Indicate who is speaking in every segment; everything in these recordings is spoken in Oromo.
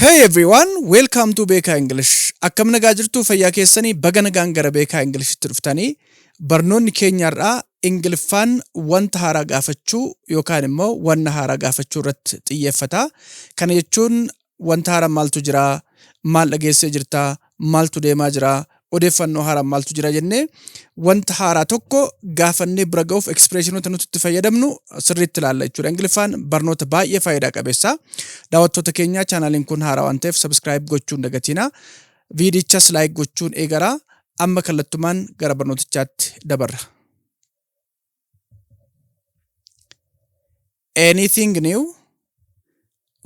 Speaker 1: Hey everyone, welcome to Beekaa English. Akkam nagaa jirtu fayyaa keessanii baga nagaan gara Beekaa Englishtti dhuftanii barnoonni keenya har'aa Ingiliffaan wanta haaraa gaafachuu yookaan immoo wanna haaraa gaafachuu irratti xiyyeeffata. Kana jechuun wanta haaraa maaltu jira, maal dhageessee jirta, maaltu deemaa jira, odeeffannoo haaraan maaltu jira jennee wanta haaraa tokko gaafannee bira ga'uuf ekspreeshinoota nuti itti fayyadamnu sirriitti ilaalla jechuudha. Ingiliffaan barnoota baay'ee faayidaa qabeessa. Daawwattoota keenyaa chaanaaliin kun haaraa waan ta'eef sabiskiraayib gochuun dagatiina. Viidichas laayik gochuun eegara. Amma kallattumaan gara barnootichaatti dabarra. Anything new?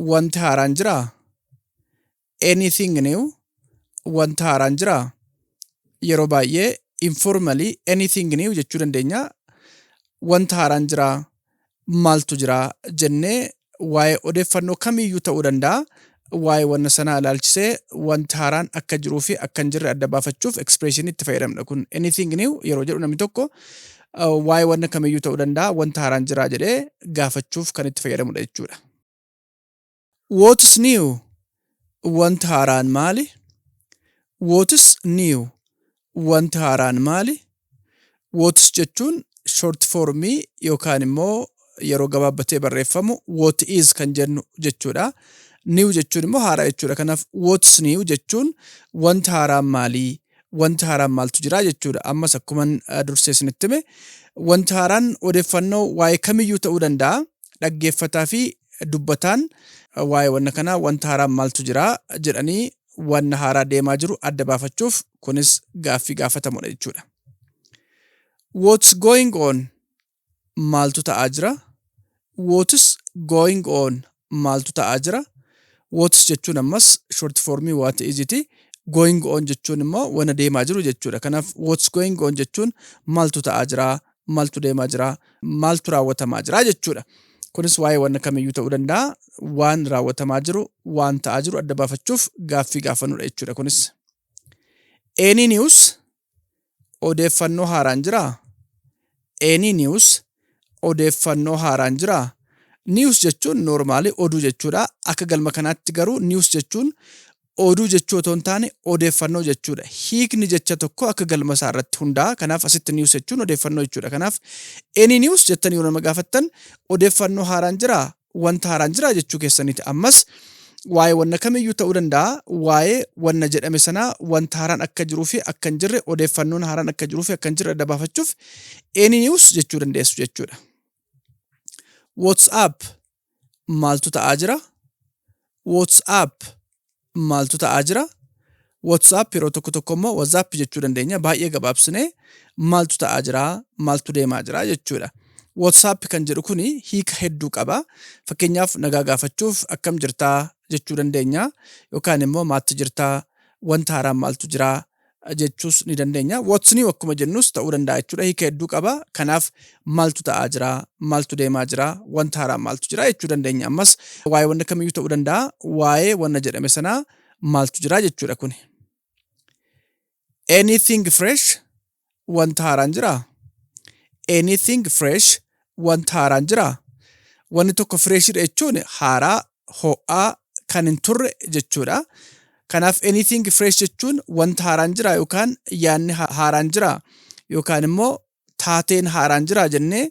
Speaker 1: Wanti haaraan jiraa? anything new wanta haaraan jira yeroo baay'ee informally anything new jechuu dandeenya wanta haaraan jira maaltu jira jennee waa'ee odeeffannoo kamiiyyuu ta'uu danda'a waa'ee wanna sanaa ilaalchisee wanta haaraan akka jiruu fi akka hin jirre adda baafachuuf expression itti fayyadamna kun anything new yeroo jedhu namni tokko uh, waa'ee wanna kamiiyyuu ta'uu danda'a wanta haaraan jira jedhee gaafachuuf kan itti fayyadamudha jechuudha. What's new? Wanti haaraan maali? What's new? Wanti haaraan maali? What's jechuun short formii yookaan immoo yeroo gabaabbatee barreeffamu what is kan jennu jechuudha. New jechuun immoo haaraa jechuudha. Kanaaf what's new jechuun wanti haaraan maali? Wanti haaraan maaltu jira jechuudha. Ammas akkuman eh, dursee isinitti hime wanti haaraan odeeffannoo waa'ee kamiyyuu ta'uu danda'a. dhaggeeffataa fi dubbataan waa'ee wanna kanaa wanta haaraa maaltu jira jedhanii wanna haaraa deemaa jiru adda baafachuuf kunis gaaffii gaafatamudha jechuudha. What's going on? Maaltu ta'aa jira? What's going on? Maaltu ta'aa jira? What's jechuun ammas short formii what is ti. Going on jechuun immoo wanna deemaa jiru jechuudha. Kanaaf what's going on jechuun maaltu ta'aa jira maaltu deemaa jira, maaltu raawwatamaa jira jechuudha. Kunis waa'ee wanna kamiyyuu ta'uu danda'a. Waan raawwatamaa jiru, waan ta'aa jiru adda baafachuuf gaaffii gaafannudha jechuudha kunis. Any news odeeffannoo haaraan jiraa? Any news odeeffannoo haaraan jiraa? News jechuun normaalii oduu jechuudha. Akka galma kanaatti garuu news jechuun oduu jechuu otoo hin taane odeeffannoo jechuudha. Hiikni jecha tokkoo akka galma isaa irratti hundaa'a. Kanaaf asitti news jechuun odeeffannoo jechuudha. Kanaaf any news jettanii yoo nama gaafattan odeeffannoo haaraan jiraa? Wanta haaraan jiraa jechuu keessaniiti. Ammas waa'ee wanna kamiyyuu ta'uu danda'a. Waa'ee wanna jedhame sanaa wanta haaraan akka jiruu fi akka hin jirre odeeffannoon haaraan akka jiruu fi akka hin jirre adda baafachuuf any news jechuu dandeessu jechuudha. WhatsApp maaltu ta'aa jira? WhatsApp maaltu ta'aa jira? WhatsApp yeroo tokko tokko immoo WhatsApp jechuu dandeenya. Baay'ee gabaabsinee maaltu ta'aa jira? Maaltu deemaa jira jechuudha. WhatsApp kan jedhu kuni hiika hedduu qaba. Fakkeenyaaf nagaa gaafachuuf akkam jirtaa jechuu dandeenya. Yookaan immoo maatti jirtaa wanta haaraan maaltu jiraa jechuus ni dandeenya. What's new akkuma jennus ta'uu danda'a jechuudha. Hiika hedduu qaba. Kanaaf maaltu ta'aa jira? Maaltu deemaa jira? Wanta haaraa maaltu jira jechuu dandeenya. Ammas waa'ee wanna kamiyyuu ta'uu danda'a. Waa'ee wanna jedhame sanaa maaltu jira jechuudha kuni. Anything fresh wanta haaraan jiraa? Anything fresh wanta haaraan jiraa? Wanni tokko fireeshidha jechuun haaraa, ho'aa, kan hin turre jechuudha. Kanaaf anything fresh jechuun wanta haaraan jiraa yookaan yaanni ha- haaraan jiraa yookaan immoo taateen haaraan jiraa jennee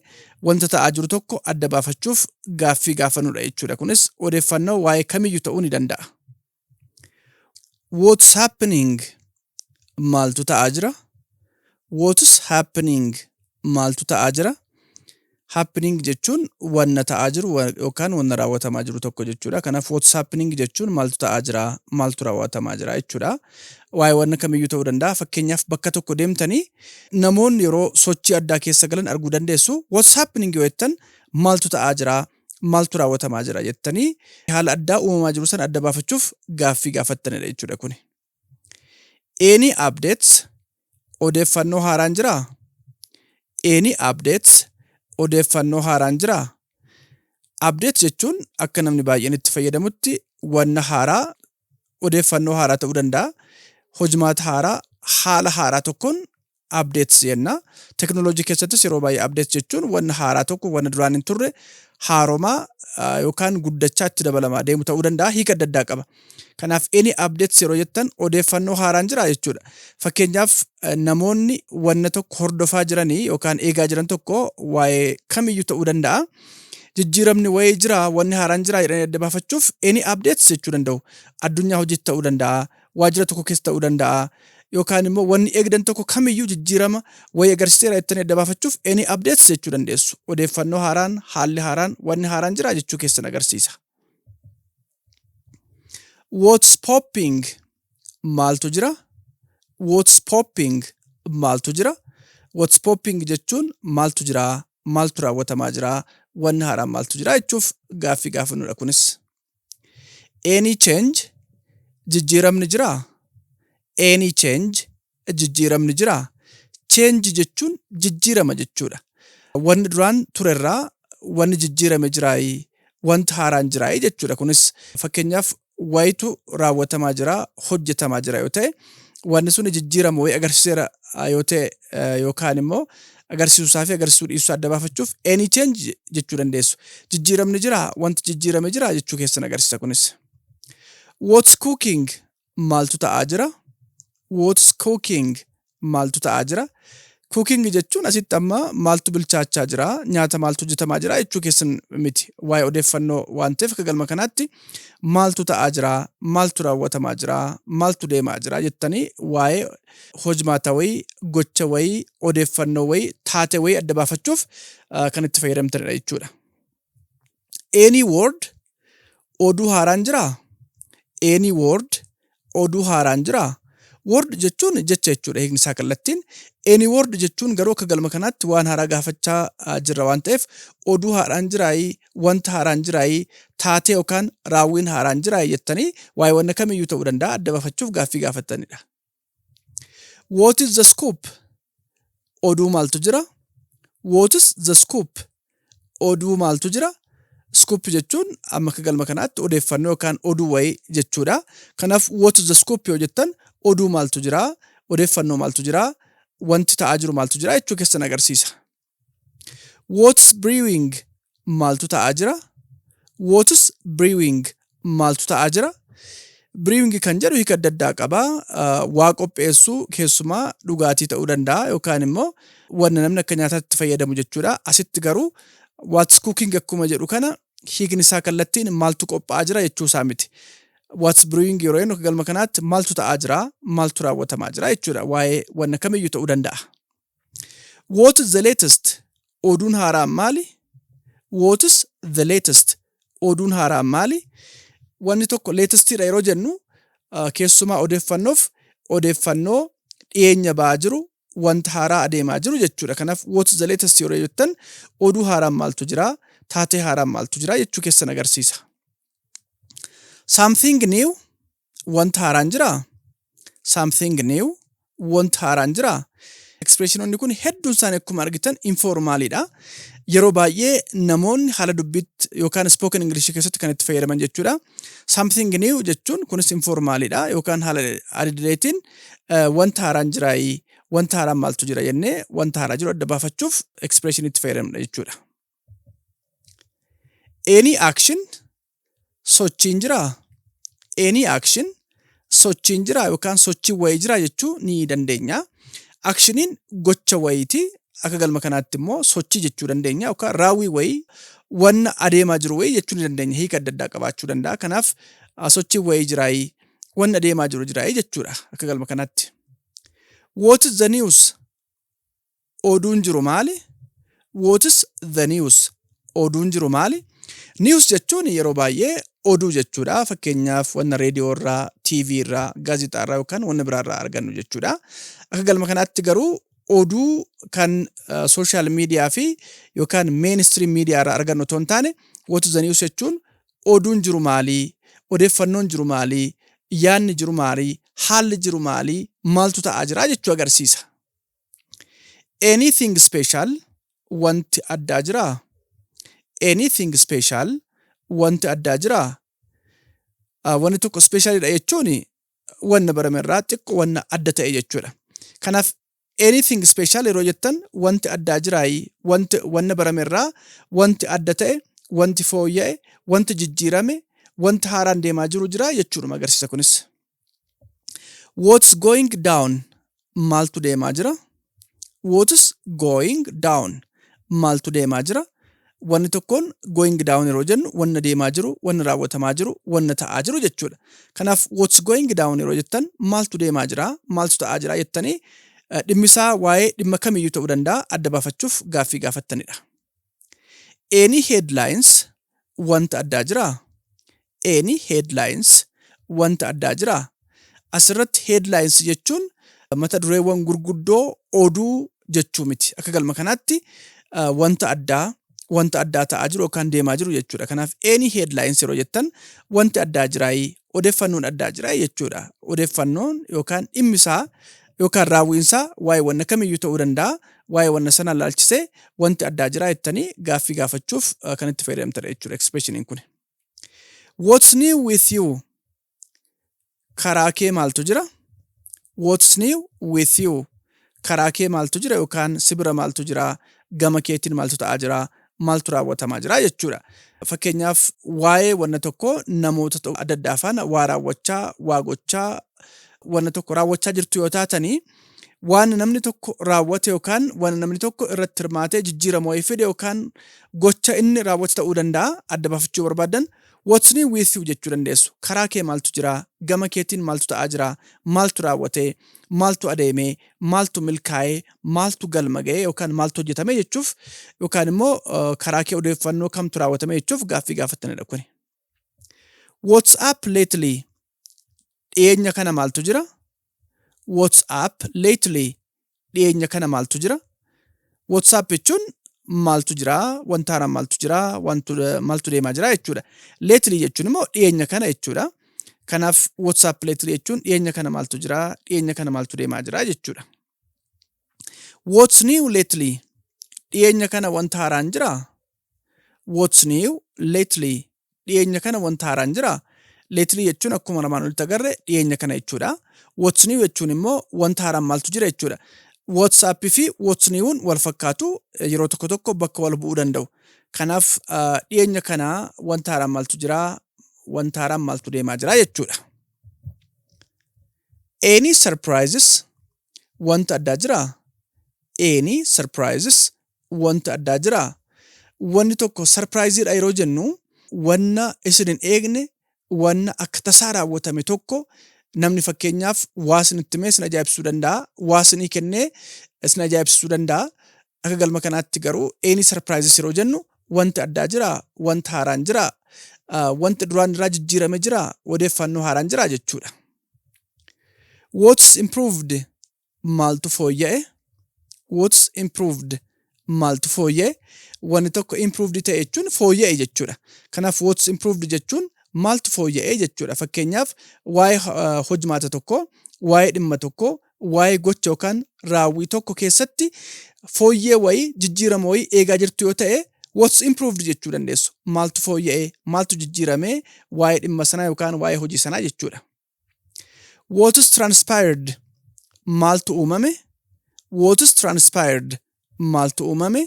Speaker 1: wanta ta'aa jiru tokko adda baafachuuf gaaffii gaafannudha jechuudha. Kunis odeeffannoo waa'ee kamiyyuu ta'uu ni danda'a. What's happening? Maaltu ta'aa jira? What's happening? Maaltu ta'aa jira? Happening jechuun wanna ta'aa jiru wa- yookaan wanna raawwatamaa jiru tokko jechuudha. Kanaaf what's happening jechuun maaltu ta'aa jira? Maaltu raawwatamaa jira jechuudha. Waa'ee wanna kamiyyuu ta'uu danda'a. Fakkeenyaaf bakka tokko deemtanii namoonni yeroo sochii addaa keessa galan arguu dandeessu. What's happening yoo jettan maaltu ta'aa jira? maaltu raawwatamaa jira jettanii haala addaa uumamaa jiru sana adda baafachuuf gaaffii gaafattanidha jechuudha kuni. Any updates odeeffannoo haaraan jiraa? Any updates odeeffannoo haaraan jiraa? Update jechuun akka namni baay'een itti fayyadamutti wanna haaraa odeeffannoo haaraa ta'uu danda'a. Hojmaata haaraa haala haaraa tokkoon updates jenna. Technology keessattis yeroo baay'ee updates jechuun wanna haaraa tokko wanna duraan hin turre haaromaa yookaan guddachaa itti dabalamaa deemu ta'uu danda'a hiika adda addaa qaba. Kanaaf any updates yeroo jettan odeeffannoo haaraan jira jechuudha. Fakkeenyaaf namoonni wanna tokko hordofaa jiranii yookaan eegaa jiran tokko waa'ee kamiyyuu ta'uu danda'a. Jijjiiramni wayii jira wanni haaraan jira jedhanii adda baafachuuf any updates jechuu danda'u. Addunyaa hojiitti ta'uu danda'a. waajjira tokko keessa ta'uu danda'a. Yookaan immoo wanni eegdan tokko kamiyyuu jijjiirama wayii agarsiiseera jettanii adda baafachuuf any updates jechuu dandeessu. Odeeffannoo haaraan, haalli haaraan, wanni haaraan jira jechuu keessan agarsiisa. What's popping? Maaltu jira? What's popping? Maaltu jira? What's popping jechuun maaltu jira? Maaltu raawwatamaa jira? Wanni haaraan maaltu jira jechuuf gaaffii gaafannudha kunis. Any change jijjiiramni jira. Any change jijjiiramni jira. Change jechuun jijjiirama jechuudha. Wanni duraan turerraa wanni jijjiirame jiraayi, wanti haaraan jiraayi jechuudha. Kunis fakkeenyaaf wayitu raawwatamaa jira, hojjetamaa jira yoo ta'e, wanni suni jijjiirama wayii agarsiiseera yoo ta'e yookaan immoo agarsiisuusaa fi agarsiisuu dhiisuusaa adda baafachuuf any change jechuu dandeessu. Jijjiiramni jira, wanti jijjiirame jira jechuu keessan agarsiisa kunis. What's cooking? Maaltu ta'aa jira? What's cooking? Maaltu ta'aa jira? Cooking jechuun asitti amma maaltu bilchaachaa jira, nyaata maaltu hojjetamaa jira jechuu keessan miti. Waa'ee odeeffannoo waan ta'eef akka galma kanaatti maaltu ta'aa jira, maaltu raawwatamaa jira, maaltu deemaa jira jettanii waa'ee hojmaata wayii, gocha wayii, odeeffannoo wayii, taate wayii adda baafachuuf kan itti fayyadamtanidha jechuudha. Any word oduu haaraan jiraa? Any word oduu haaraan jiraa? Word jechuun jecha jechuudha hiikni isaa kallattiin. Any word jechuun garuu akka galma kanaatti waan haaraa gaafachaa ah, jirra waan ta'eef oduu haaraan jiraayii, wanta haaraan jiraayii, taatee yookaan raawwiin haaraan jiraayii jettanii waa'ee wanna kamiyyuu ta'uu danda'a adda baafachuuf gaaffii gaafattanidha. What is the scoop? Oduu maaltu jira? What is the scoop? Oduu maaltu jira? Scoop jechuun amma akka galma kanaatti odeeffannoo yookaan oduu wayii jechuudha. Kanaaf what is the scoop yoo jettan oduu maaltu jira? Odeeffannoo maaltu jira? Wanti ta'aa jiru maaltu jira? Jechuu keessan agarsiisa. What's brewing? Maaltu ta'aa jira? What's brewing? Maaltu ta'aa jira? Brewing kan jedhu hiika adda addaa qaba. Ah, Waa qopheessuu keessumaa dhugaatii ta'uu danda'a yookaan immoo wanna namni akka nyaataatti fayyadamu jechuudha. Asitti garuu what's cooking akkuma jedhu kana hiikni isaa kallattiin maaltu qophaa'aa jira jechuu isaa miti. What's brewing yeroo jennu akka galma kanaatti maaltu ta'aa jira, maaltu raawwatamaa jira jechuudha. Waa'ee wanna kamiyyuu ta'uu danda'a. What is the latest? Oduun haaraan maali? What is the latest? Oduun haaraan maali? Wanni tokko latestidha yeroo jennu uh, keessumaa odeeffannoof odeeffannoo dhiyeenya ba'aa jiru wanta haaraa adeemaa jiru jechuudha. Kanaaf what is the latest yeroo jettan oduu haaraan maaltu jira? Taatee haaraan maaltu jira? jechuu keessan agarsiisa. Something new Wanta haaraan jiraa? Something new. Wanta haaraan jiraa? Ekspreeshinoonni kun hedduun isaanii akkuma argitan informaaliidha. Yeroo baay'ee namoonni haala dubbiitti yookaan spoken English keessatti kan itti fayyadaman jechuudha. Something new jechuun kunis informaaliidha yookaan haala adidireetiin eh, wanta haaraan jiraayi, wanta haaraan maaltu jira jennee wanta haaraa jiru adda baafachuuf ekspreeshinii itti fayyadamna jechuudha. Any action sochiin jiraa? Any action sochiin jiraa yookaan sochiin wayii jiraa jechuu ni dandeenya. Akshiniin gocha wayiiti. Akka galma kanaatti immoo sochii jechuu dandeenya yookaan raawwii wayii wanna adeemaa jiru wayii jechuu ni dandeenya. Hiika adda addaa qabaachuu danda'a. Kanaaf ah, sochiin wayii jiraayii wanna adeemaa jiru jiraayii jechuudha akka galma kanaatti. What is the news? oduun jiru maali? What is the news? Oduun jiru maali? News jechuun yeroo baay'ee oduu jechuudha. Fakkeenyaaf wanna reediyoo irraa, TV irraa, gaazexaa irraa yookaan wanna biraa irraa argannu jechuudha. Akka galma kanaatti garuu oduu kan sooshaal miidiyaa fi yookaan meenistiriim miidiyaa irraa argannu otoo hin taane what is the news jechuun oduun jiru maalii? Odeeffannoon jiru maalii? Yaanni jiru maalii? Haalli jiru maalii? Maaltu ta'aa jira jechuu agarsiisa. Anything special wanti addaa jiraa? Anything special wanti addaa jiraa? Ah, Wanni tokko speeshaalidha jechuun wanna barame irraa xiqqoo wanna adda ta'e jechuudha. Kanaaf anything special yeroo jettan wanti addaa jiraayi, wanti wanna barame irraa wanti adda ta'e, wanti fooyya'e, wanti jijjiirame, wanti haaraan deemaa jiru jiraa jechuudhuma agarsiisa kunis. What's going down? Maaltu deemaa jira? What's going down? Maaltu deemaa jira? Wanni tokkoon going down yeroo jennu wanna deemaa jiru, wanna raawwatamaa jiru, wanna ta'aa jiru jechuudha. Kanaaf what's going down yeroo jettan maaltu deemaa jira, maaltu ta'aa jira jettanii eh, dhimmisaa waa'ee dhimma kamiyyuu ta'uu danda'a adda baafachuuf gaaffii gaafattanidha. Any headlines wanta addaa jiraa? Any headlines wanta addaa jiraa? Asirratti headlines jechuun mata dureewwan gurguddoo oduu jechuu miti. Akka galma kanaatti uh, wanta addaa wanta addaa ta'aa jiru yookaan deemaa jiru jechuudha. Kanaaf any headlines yeroo jettan wanti addaa jiraayii odeeffannoon addaa jiraayii jechuudha. Odeeffannoon yookaan dhimmi isaa yookaan raawwiinsaa waa'ee wanna kamiyyuu ta'uu danda'a waa'ee wanna sanaa ilaalchisee wanti addaa jiraa jettanii gaaffii gaafachuuf eh, kan itti fayyadamtadha jechuudha expression kun. What's new with you? Karaa kee maaltu jira? What's new with you? Karaa kee maaltu jira yookaan si bira maaltu jira? Gama keetiin maaltu ta'aa jira? maaltu raawwatamaa jira jechuudha. Fakkeenyaaf waa'ee wanna tokko namoota to- adda addaa faana waa raawwachaa, waa gochaa, wanna tokko raawwachaa jirtu yoo taatanii waan namni tokko raawwate yookaan waan namni tokko irratti hirmaatee jijjiirama wayii fide yookaan gocha inni raawwate ta'uu danda'a adda baafachuu barbaadan what's new with you jechuu dandeessu. Karaa kee maaltu jira? Gama keetiin maaltu ta'aa jira? Maaltu raawwate? Maaltu adeeme? maaltu milkaa'e, maaltu galma ga'e yookaan maaltu hojjetame jechuuf yookaan immoo karaa kee odeeffannoo kamtu raawwatame jechuuf gaaffii gaafattanidha kuni. What's up lately? Dhiyeenya kana maaltu jira? What's up lately? Dhiyeenya kana maaltu jira? WhatsApp jechuun maaltu jira, wanta haaraan maaltu jira, wantu, maaltu deemaa jira jechuudha. Lately jechuun immoo dhiyeenya kana jechuudha. Kanaaf WhatsApp lately jechuun dhiyeenya kana maaltu jira, dhiyeenya kana maaltu deemaa jira jechuudha. What's new lately? Dhiyeenya kana wanta haaraan jira, What's new lately? Dhiyeenya kana wanta haaraan jira. Lately jechuun akkuma armaan olitti agarre dhiyeenya kana jechuudha. What's new jechuun immoo wanta haaraan maaltu jira jechuudha. WhatsApp fi What's new'n wal fakkaatu yeroo tokko tokko bakka wal bu'uu danda'u. Kanaaf dhiyeenya kana wanta haaraan maaltu jira, wanta haaraan maaltu deemaa jira jechuudha. Any surprises wanta addaa jira? Any surprises wanti addaa jiraa? Wanni tokko sarpiraayiziidha yeroo jennu wanna isin hin eegne wanna akka tasaa raawwatame tokko namni fakkeenyaaf waa isin itti himee isin ajaa'ibsiisuu danda'a. Waa isinii kennee isin ajaa'ibsiisuu danda'a. Akka galma kanaatti garuu eenii sarpiraayizis yeroo jennu wanti addaa jiraa? Wanti haaraan jiraa? Wanti duraan irraa jijjiirame jiraa? Odeeffannoo haaraan jiraa jechuudha. What's improved? Maaltu fooyya'e? What's improved? Maaltu fooyya'e? Wanni tokko improved ta'e jechuun fooyya'e jechuudha. Kanaaf what's improved jechuun maaltu fooyya'e jechuudha. Fakkeenyaaf waa'ee eh, hojmaata tokko, waa'ee dhimma tokko, waa'ee gocha yookaan raawwii tokko keessatti fooyyee wayii jijjiirama wayii eegaa jirtu yoo ta'e what's improved jechuu dandeessu. Maaltu fooyya'e? Maaltu jijjiirame? Waa'ee dhimma sanaa yookaan waa'ee hojii sanaa jechuudha. What's transpired? Maaltu uumame? What's transpired? Maaltu uumame?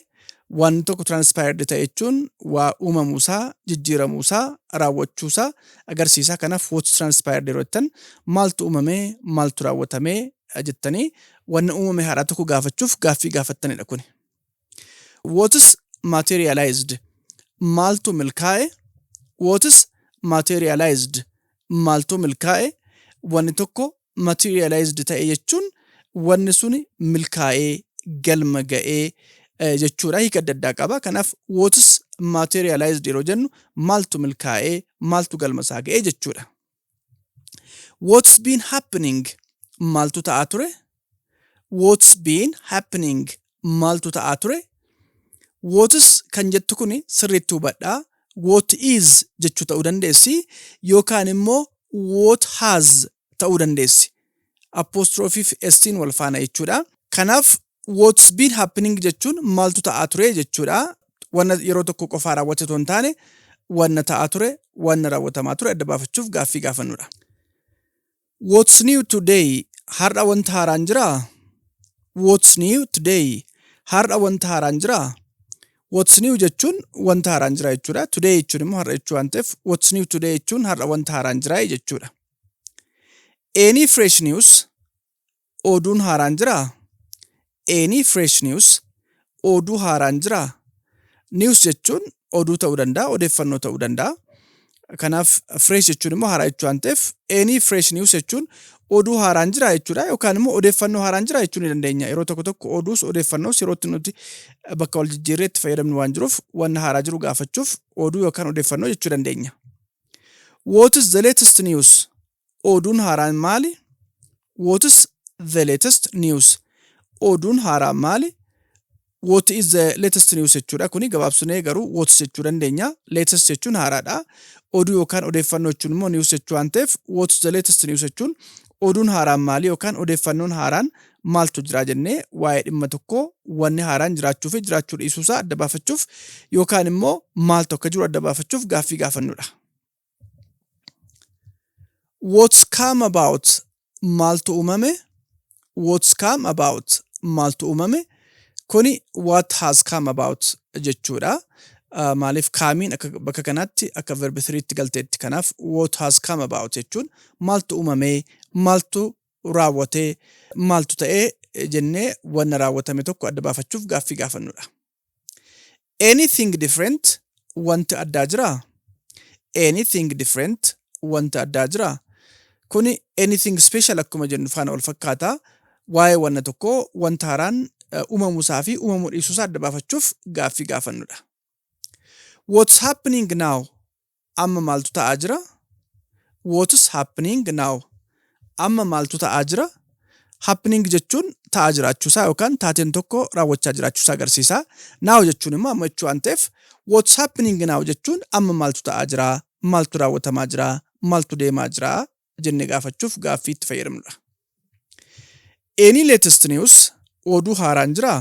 Speaker 1: Wanti tokko transpired ta'e jechuun waa uumamuusaa, jijjiiramuusaa, raawwachuusaa agarsiisa. Kanaaf what's transpired yeroo jettan maaltu uumame, maaltu raawwatame jettanii wanna uumame haaraa tokko gaafachuuf gaaffii gaafattanidha kuni. What's materialized? Maaltu milkaa'e? What's materialized? Maaltu milkaa'e? Wanni tokko materialized ta'e jechuun wanni suni milkaa'ee galma ga'ee eh, jechuudha. Hiika adda addaa qaba. Kanaaf what's materialized yeroo jennu maaltu milkaa'ee maaltu galma isaa ga'ee jechuudha. What's been happening? Maaltu ta'aa ture? What's been happening? Maaltu ta'aa ture? What's kan jettu kun sirriitti hubadhaa. What is jechuu ta'uu dandeessi yookaan immoo what has ta'uu dandeessi. Apostrophiif S'in wal faana jechuudha. Kanaaf what's been happening jechuun maaltu ta'aa ture jechuudha. Wanna yeroo tokko qofaa raawwate otoo hin taane wanna ta'aa ture, wanna raawwatamaa ture adda baafachuuf gaaffii gaafannudha. What's new today? Har'a wanta haaraan jiraa? What's new today? Har'a wanta haaraan jiraa? What's new jechuun wanta haaraan jira jechuudha. Today jechuun immoo har'a jechuu waan ta'eef what's new today jechuun har'a wanta haaraan jira jechuudha. Any fresh news? Oduun haaraan jiraa? Any fresh news? Oduu haaraan jiraa? News jechuun oduu ta'uu danda'a, odeeffannoo ta'uu danda'a. Kanaaf fresh jechuun immoo haaraa jechuu waan ta'eef any fresh news jechuun oduu haaraan jiraa jechuudha yookaan immoo odeeffannoo haaraan jiraa jechuu ni dandeenya. Yeroo tokko tokko oduus odeeffannoos yerootti nuti bakka wal jijjiirree itti fayyadamnu waan jiruuf wanna haaraa jiru gaafachuuf oduu yookaan odeeffannoo jechuu dandeenya. What is the latest news? Oduun haaraan maali? What's the latest news? Oduun haaraan maali? What is the latest news jechuudha. Kuni gabaabsinee garuu what's jechuu dandeenya. Latest jechuun haaraadha. Oduu yookaan odeeffannoo jechuun immoo news jechuu waan ta'eef what's the latest news jechuun oduun haaraan maali yookaan odeeffannoon haaraan maaltu jira jennee waa'ee dhimma tokkoo wanni haaraan jiraachuu fi jiraachuu dhiisuusaa adda baafachuuf yookaan immoo maaltu akka jiru adda baafachuuf gaaffii gaafannudha. What's come about maaltu uumame What's come about maaltu uumame kuni what has come about jechuudha. Uh, maaliif kaamiin akka bakka kanaatti akka verb 3tti galteetti kanaaf what has come about jechuun maaltu uumame maaltu raawwate maaltu ta'e jennee wanna raawwatame tokko adda baafachuuf gaaffii gaafannudha. Anything different wanti addaa jiraa? Anything different wanti addaa jiraa? Kuni anything special akkuma jennu faana wal fakkaata. Waa'ee wanna tokkoo wanta haaraan uumamu isaa fi uumamuu dhiisuu isaa adda baafachuuf gaaffii gaafannudha. What's happening now? Amma maaltu ta'aa jira? What's happening now? Amma maaltu ta'aa jira? Happening jechuun ta'aa jiraachuusaa yookaan taateen tokko raawwachaa jiraachuusaa agarsiisa. Now jechuun immoo amma jechuu waan ta'eef what's happening now jechuun amma maaltu ta'aa jira? Maaltu raawwatamaa jira? Maaltu deemaa jira? jenne gaafachuuf gaaffii itti fayyadamnudha. Any latest news oduu haaraan jiraa?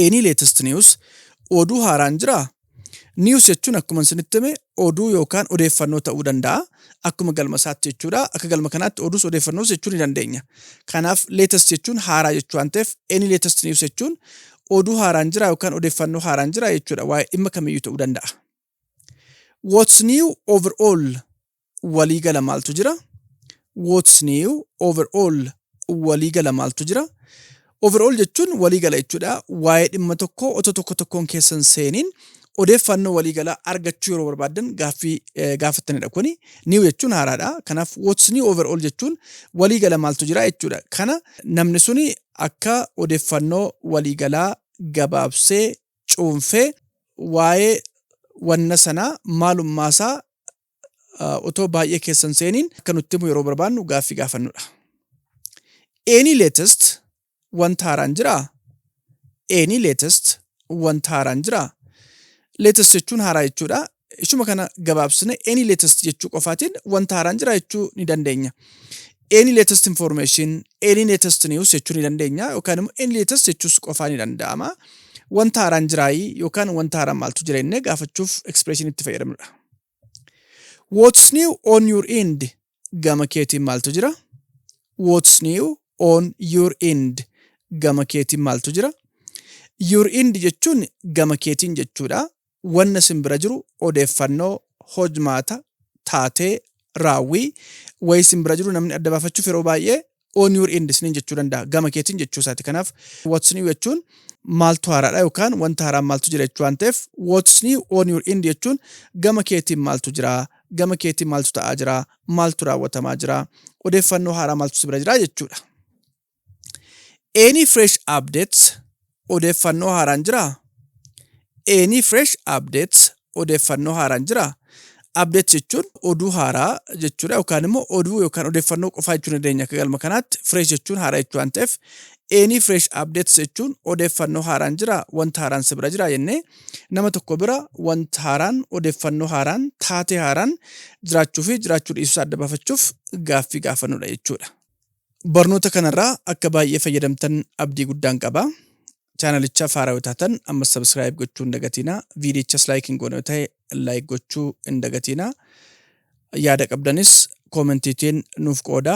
Speaker 1: Any latest news oduu haaraan jiraa? News jechuun akkuma isinitti hime oduu yookaan odeeffannoo ta'uu danda'a. Akkuma galma isaatti jechuudha. Akka galma kanaatti oduus odeeffannoos jechuu ni dandeenya. Kanaaf latest jechuun haaraa jechuu waan ta'eef any latest news jechuun oduu haaraan jiraa yookaan odeeffannoo haaraan jiraa jechuudha. Waa'ee dhimma kamiyyuu ta'uu danda'a. What's new overall walii gala maaltu jira? What's new overall walii gala maaltu jira? Overall jechuun walii gala jechuudha. Waa'ee dhimma tokkoo otoo tokko tokkoon keessan seeniin odeeffannoo walii galaa argachuu yeroo barbaaddan gaaffii eh, gaafattanidha kuni. New jechuun haaraadha. Kanaaf what's new overall jechuun walii gala maaltu jira jechuudha. Kana namni suni akka odeeffannoo walii galaa gabaabsee cuunfee waa'ee wanna sanaa maalummaasaa otoo baay'ee keessa hin seeniin akka nutti himu yeroo barbaannu gaaffii gaafannudha. Any latest wanta haaraan jiraa? Any latest wanta haaraan jiraa? Latest jechuun haaraa jechuudha. ishuma kana gabaabsine any latest jechuu qofaatiin wanta haaraan jira jechuu ni dandeenya. Any latest information, any latest news jechuu ni dandeenya yookaan immoo any latest jechuus qofaa ni danda'ama. Wanta haaraan jiraayii yookaan wanta haaraan maaltu jira jennee gaafachuuf expression itti fayyadamnudha. What's new on your end? Gama keetiin maaltu jira? What's new on your end? Gama keetiin maaltu jira? Your end jechuun gama keetiin jechuudha. wanna isin bira jiru odeeffannoo, hojmaata, taatee, raawwii, wayii isin bira jiru namni adda baafachuuf yeroo baay'ee on your end isiniin jechuu danda'a. Gama keetiin jechuu isaati. Kanaaf what's new jechuun maaltu haaraadha yookaan wanta haaraan maaltu jira jechuu waan ta'eef what's new on your end jechuun gama keetiin maaltu jira, gama keetiin maaltu ta'aa jira, maaltu raawwatamaa jira, odeeffannoo haaraa maaltu si bira jira jechuudha. Any fresh updates odeeffannoo haaraan jiraa? Any fresh updates odeeffannoo haaraan jiraa? Updates jechuun oduu haaraa jechuudha yookaan immoo oduu yookaan odeeffannoo qofaa jechuu dandeenya akka galma kanaatti fresh jechuun haaraa jechuu waan ta'eef any fresh updates jechuun odeeffannoo haaraan jira wanta haaraan si bira jira jennee nama tokko bira wanta haaraan odeeffannoo haaraan taatee haaraan jiraachuu fi jiraachuu dhiisuu adda baafachuuf gaaffii gaafannudha jechuudha. Barnoota kanarraa akka baay'ee fayyadamtan abdii guddaan qaba. Chaanalicha faaraa yoo taatan ammas sabiskiraayib gochuu hin dagatiina. Viidiyichas laayik hin goone yoo ta'e laayik gochuu hin dagatiina. Yaada qabdanis koomentiitiin nuuf qooda.